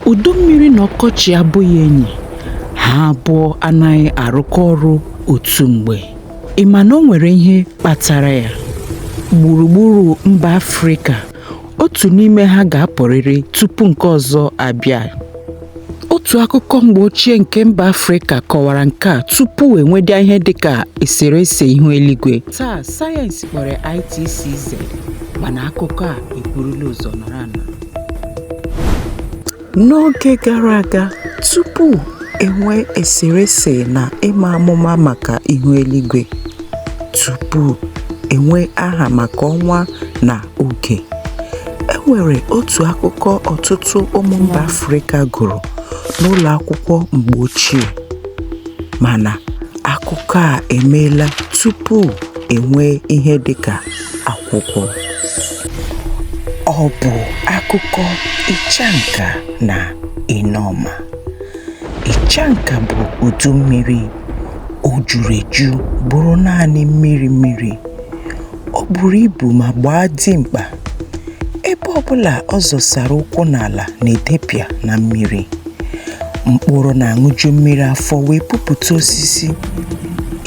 Udu mmiri na ọkọchị abụghị enyi, ha abụọ anaghị arụkọ ọrụ otu mgbe. Ị ma na o nwere ihe kpatara ya? Gburugburu mba Afrịka, otu n'ime ha ga-apụrịrị tupu nke ọzọ abịa. Otu akụkọ mgbe ochie nke mba Afrịka kọwara nke a tupu e nwedịa ihe dị ka eserese ihu eluigwe. Taa, sayensị kpọrọ ya ITCZ, mana akụkọ a eburula ụzọ nọrọ anọ. N'oge gara aga, tupu enwee eserese na ịma amụma maka ihu eluigwe, tupu enwee aha maka ọnwa na oge, e nwere otu akụkọ ọtụtụ ụmụ mba Afrịka gụrụ n'ụlọ akwụkwọ mgbe ochie. Mana akụkọ a emeela tupu enwee ihe dịka. akwụkwọ ọ bụ akụkọ ịchanka na ịnọma ịchanka bụ udu mmiri o juru eju bụrụ naanị mmiri mmiri ọ buru ibu ma gbaa dimkpa ebe ọbụla ọ zọsara ụkwụ n'ala na-edepịa na mmiri mkpụrụ na-aṅụju mmiri afọ wee pupụta osisi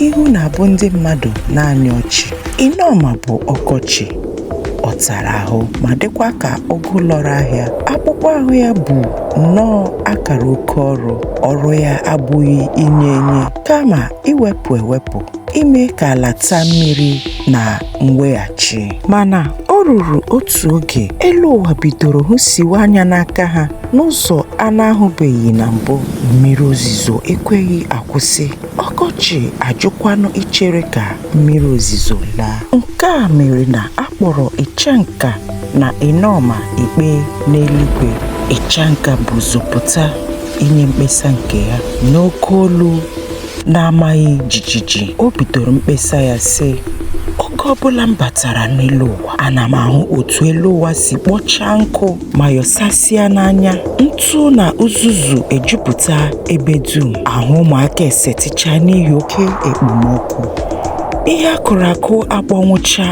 ihu na-abụ ndị mmadụ naanị ọchị Ịnọma bụ ọkọchị ọ tara ahụ ma dịkwa ka ụgụ lọrọ ahịa akpụkpọ ahụ ya bụ nnọọ akara oke ọrụ ọrụ ya abụghị inye enye kama iwepụ ewepụ ime ka ala taa mmiri na mweghachi mana o ruru otu oge elu ụwa bidoro hụsiwe anya n'aka ha n'ụzọ a na-ahụbeghị na mbụ mmiri ozizo ekweghị akwụsị ọkọchị ajụkwanụ ichere ka mmiri ozizo laa nke a mere na a kpọrọ ịchanka na ịnọma ikpe n'eluigwe ịchanka bu ụzọ pụta inye mkpesa nke ya n'oke olu Na-amaghị jijiji, o bidoro mkpesa ya sị, Oge ọbụla m batara n'elu ụwa, ana m ahụ otu elu ụwa si kpọchaa nkụ ma yọsasịa n'anya. Ntụ na uzuzu ejupụta ebe dum. Ahụ ụmụaka esetịchaa n'ihi oke ekpomọkụ. Ihe a kụrụ akụ akpọnwụcha.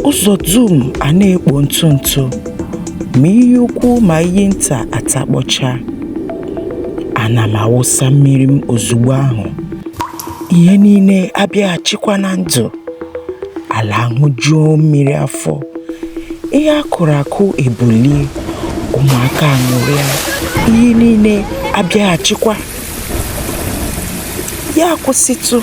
Ụzọ dum a na-ekpo ntụ ntụ. Ma iyi ukwu ma iyi nta atakpọcha. Ana m awụsa mmiri m ozugbo ahụ, ihe niile abịaghachikwa na ndụ. Ala aṅụjuo mmiri afọ, ihe a kụrụ akụ ebulie, ụmụaka aṅụrịa, ihe niile abịaghachikwa. Ya akwụsịtụ!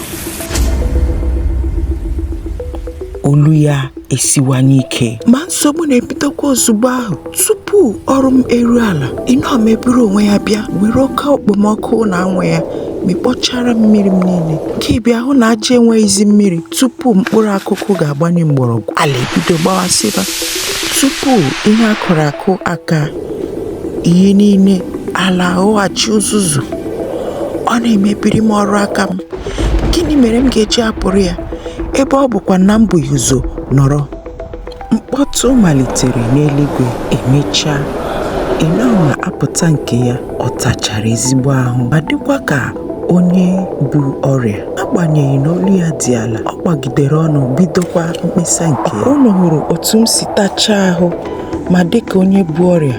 Olu ya. esiwanye ike ma nsogbu na-ebidokwa ozugbo ahụ tupu ọrụ m eru ala ịnọma eburu onwe ya bịa were oke okpomọkụ na anwụ ya mịkpọchara mmiri m niile gị bịa hụ na aja enweghịzi mmiri tupu mkpụrụ akụkụ ga-agbanye mgbọrọgwụ ala ebido gbawasịba tupu ihe a kụrụ akụ aka ihe niile ala aghọghachi uzuzu ọ na-emebiri m ọrụ aka m gịnị mere m ga-eji apụrụ ya ebe ọ bụkwa na m bu ụzọ nọrọ mkpọtụ malitere n'eluigwe emechaa ịnọma apụta nke ya ọ tachara ezigbo ahụ ma dịkwa ka onye bu ọrịa agbanyeghị na olu ya dị ala ọ gbagidere ọnụ bidokwa mkpesa nke ya unu hụrụ otu m si tachaa ahụ ma dịka onye bu ọrịa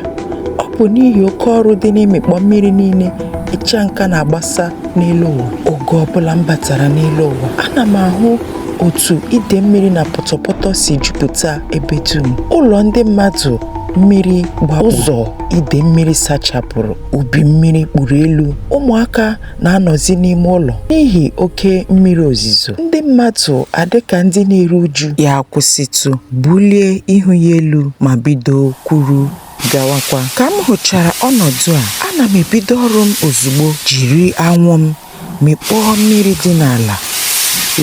ọ bụ n'ihi oke ọrụ dị n'ịmịkpọ mmiri niile ịchanka na-agbasa n'elu ụwa oge ọbụla m batara n'elu ụwa ana m ahụ otu ide mmiri na pọtọpọtọ si jupụta ebe dum ụlọ ndị mmadụ mmiri gba ụzọ ide mmiri sachapụrụ ubi mmiri kpuru elu ụmụaka na-anọzi n'ime ụlọ n'ihi oke mmiri ozizo ndị mmadụ adịka ndị na-eru uju ya kwụsịtụ bulie ihu ya elu ma bido kwuru gawakwa ka m hụchara ọnọdụ a ana m ebido ọrụ m ozugbo jiri anwụ m mịkpọọ mmiri dị n'ala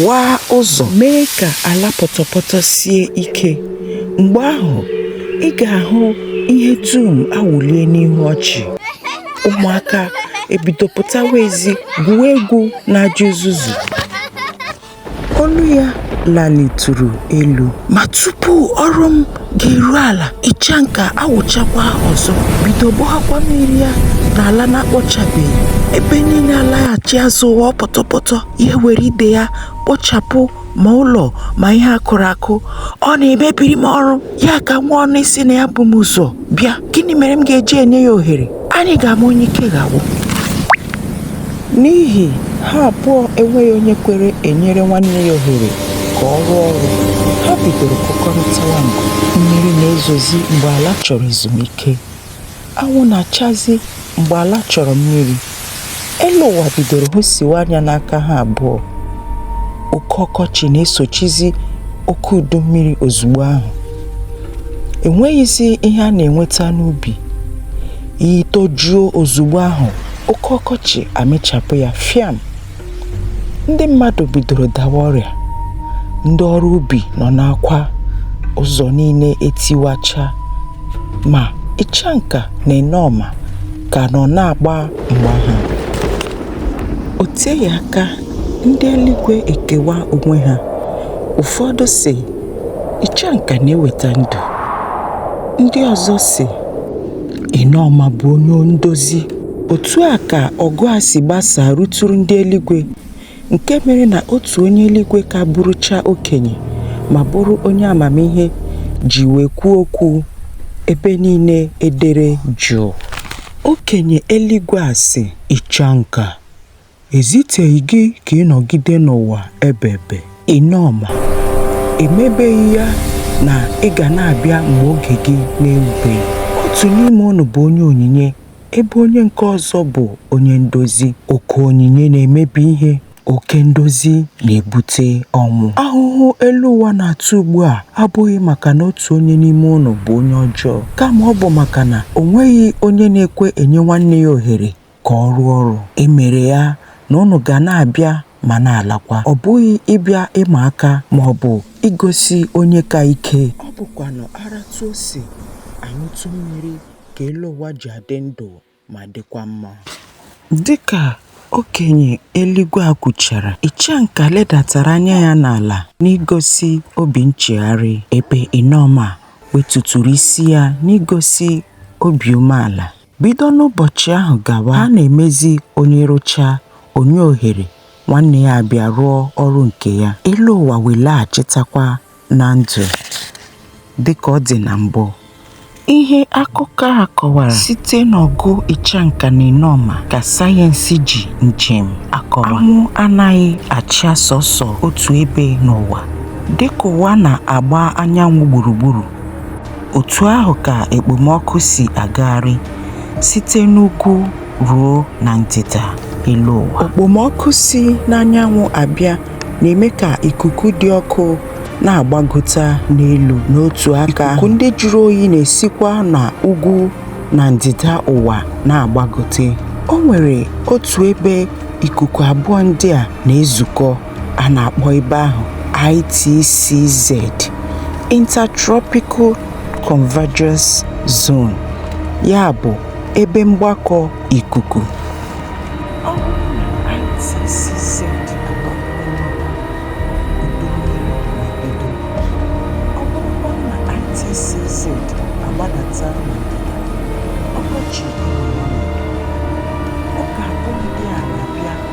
waa ụzọ mee ka ala pọtọpọtọ sie ike mgbe ahụ ị ga-ahụ ihe dum awụlie n'ihu ọchị ụmụaka ebido pụtawa ezi gwuo egwu n'aja uzuzu olu ya lalitụrụ elu ma tupu ọrụ m ga-eru ala ịchanka awụchakwa ọzọ bido gbọghakwa mmiri ya n'ala na-akpọchabeghị ebe niile alaghachi azụ ghọọ pọtọpọtọ ya ewere ide ya kpochapụ ma ụlọ ma ihe akụrụ akụ ọ na-emebiri m ọrụ ya ka nwa ọnụ ịsị na ya bu m ụzọ bịa gịnị mere m ga-eji enye ya ohere anyị ga-ama onye ike ga-agwụ n'ihi ha abụọ enweghị onye kwere enyere nwanne ya ohere ka ọ rụọ ọrụ ha bidoro kụkọrịtawa nkụ mmiri na-ezozi mgbe ala chọrọ ezumike anwụ na-achazi mgbe ala chọrọ mmiri elu ụwa bidoro hụsiwa anya n'aka ha abụọ oke ọkọchị na-esochizi oke udu mmiri ozugbo ahụ enweghịzi ihe a na-enweta n'ubi iyi tojuo ozugbo ahụ oke ọkọchị amịchapụ ya fiam ndị mmadụ bidoro dawa ọrịa ndị ọrụ ubi nọ n'akwa ụzọ niile etiwacha Ma Ịchanka na Ịnọma ka nọ na-agba mgba ha. O teghị aka ndị eluigwe ekewa onwe ha. Ụfọdụ sị, Ịchanka na-eweta ndụ. Ndị ọzọ sị, Ịnọma bụ onye ndozi. Otu a ka ọgụ a si gbasaa ruturu ndị eluigwe. nke mere na otu onye eluigwe ka bụrụcha okenye ma bụrụ onye amamihe ji wee kwuo okwu ebe niile edere jụụ. Okenye eluigwe a sị, Ịchanka, e ziteghị gị ka ị nọgide n'ụwa ebebe. Ịnọma, e mebeghị ya na ị ga na-abịa mgbe oge gị na-erubeghị. Otu n'ime unu bụ onye onyinye ebe onye nke ọzọ bụ onye ndozi. Oke onyinye na-emebi ihe, oke ndozi na-ebute ọnwụ. Ahụhụ elu ụwa na-ata ugbu a abụghị maka na otu onye n'ime unu bụ onye ọjọọ, kama ọ bụ maka na o nweghị onye na-ekwe enye nwanne ya ohere ka ọ rụọ ọrụ. E mere ya na unu ga na-abịa ma na-alakwa. Ọ bụghị ịbịa ịma aka ma ọ bụ igosi onye ka ike. Ọ bụkwanụ a ratụ ose a ṅụtụ mmiri ka elu ụwa ji adị ndụ ma dịkwa mma. Dị ka okenye eluigwe a kwuchara, Ịchanka ledatara anya ya n'ala n'igosi obi nchegharị, ebe Ịnọma wetuturu isi ya n'igosi obi umeala. Bido n'ụbọchị ahụ gawa, ha na-emezi onye rụchaa, o nye ohere nwanne ya abịa rụọ ọrụ nke ya, elu ụwa wee laghachitakwa na ndụ dị ka ọ dị na mbụ. Ihe akụkọ a kọwara site n'ọgụ Ịchanka na Ịnọma ka sayensị ji njem akọwa. Anwụ anaghị acha sọsọ otu ebe n'ụwa. Dịka ụwa na-agba anyanwụ gburugburu, Otu ahụ ka ekpomọkụ si agagharị site n'ugwu ruo na ndịda elu ụwa. Okpomọkụ si n'anyanwụ abịa na-eme ka ikuku dị ọkụ na-agbagota n'elu. N'otu aka, ikuku ndị jụrụ oyi na-esikwa na ugwu na ndịda ụwa na-agbagote. O nwere otu ebe ikuku abụọ ndị a na-ezukọ. A na-akpọ ebe ahụ ITCZ, Intertropical Convergence Zone, ya bụ, Ebe Mgbakọ Ikuku.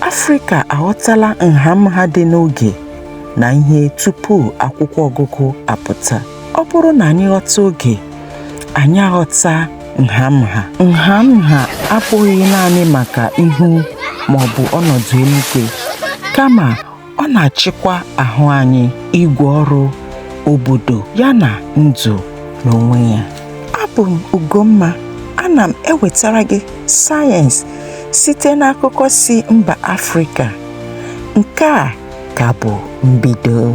Afrịka aghọtala nha nha dị n'oge na ihe tupu akwụkwọ ọgụgụ apụta. Ọ bụrụ na anyị ghọta oge, anyị aghọta nha nha. Nha nha abụghị naanị maka ihu maọbụ ọnọdụ eluigwe, kama ọ na-achịkwa ahụ anyị igwe ọrụ obodo ya na ndụ n'onwe ya abụ m Ugomma ana m ewetara gị sayensị site n'akụkọ si mba Afrịka nke a ka bụ mbido